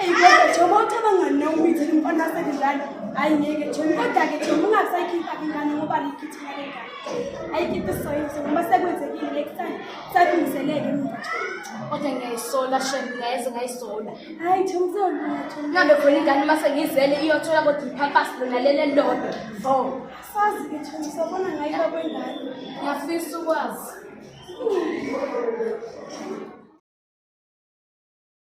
Eyi kodwa Jomo uthi abangani nawe umithini umfana wasekudlala. Hayi ngeke Jomo kodwa-ke Jomo ungasayikhipha ingane ngoba likhithina le ngane. Ayikhiphe soyise ngoba sekwenzekile next time sakulungiseleke mina Jomo. Kodwa ngiyayisola shem ngeze ngayisola. Hayi Jomo sewulutho. Ngihambe khona ingane uma sengizele iyothola kodwa iphampasi lona leli elilodwa. Vo. Sazi-ke Jomo sobona ngayiba kwengane. Ngiyafisa ukwazi.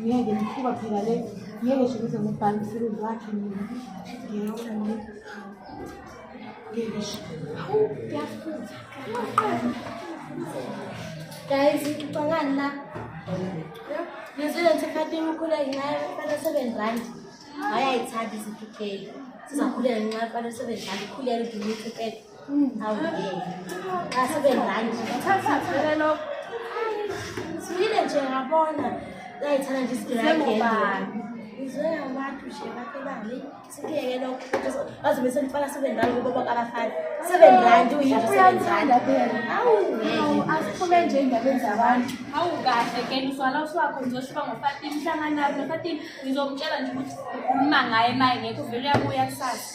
ngeke mkhuba phela le ngeke sho ukuthi ngubhale umsebenzi wakhe mina ngiyabona mina ngeke sho hawu ngiyafutha guys ngicabangani la ngizwile ngithi khatini ukhula ngenxa yokufanele seven rand hhayi ayithandi izinto ugeli sizakhulela ngenxa yokufanele seven rand ukhulele udumithi upele Sibile nje ngabona layithanda nje isigilageli ngizwe abantu nje bakelani sikuyeke lokho bazobe selifaka seven rand kubo bakabafana seven rand uyinto seven rand awu asiphume nje endabeni zabantu awu kahle ke mswala uswakho ngizoshiba ngofatini hlangana nabo nofatini ngizomtshela nje ukuthi ukhuluma ngaye maye ngekho vele uyabuya kusasa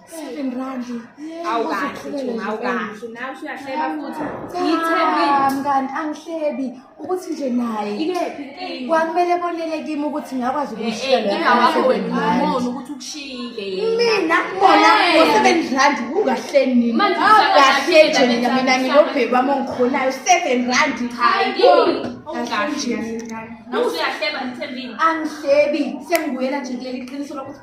seven rand awukahleumngani angihlebi ukuthi nje naye kwakumele bonele kimi ukuthi ngakwazi ukumshiyamina bona ngo-seven rand ungahleniahlejena mina ngilobheki wami ongikhonayo seven rand angihlebi sengibuyela nje kuleli qiniso lokuthi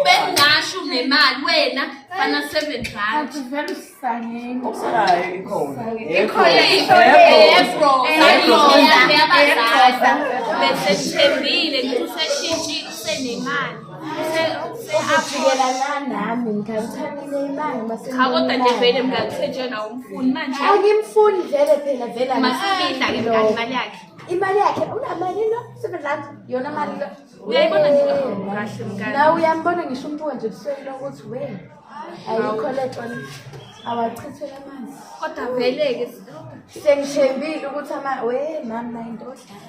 ubengasho nemali wena fana seven rand besethembile ngithi useshintshile usenemali Cha kodwa nje vele mngani kusetshwe nawo umfuni manje. Angimfuni vele phela vele Masifihla ke mngani imali yakhe. Imali yakhe unamali lo sebenza yona mali lo. Uyayibona nje kahle mngani. Na uyambona ngisho umuntu nje ebusweni lokuthi we. Ayikho le tona. Awachithwe amanzi. Kodwa vele ke sengithembile ukuthi ama we mama into odlala.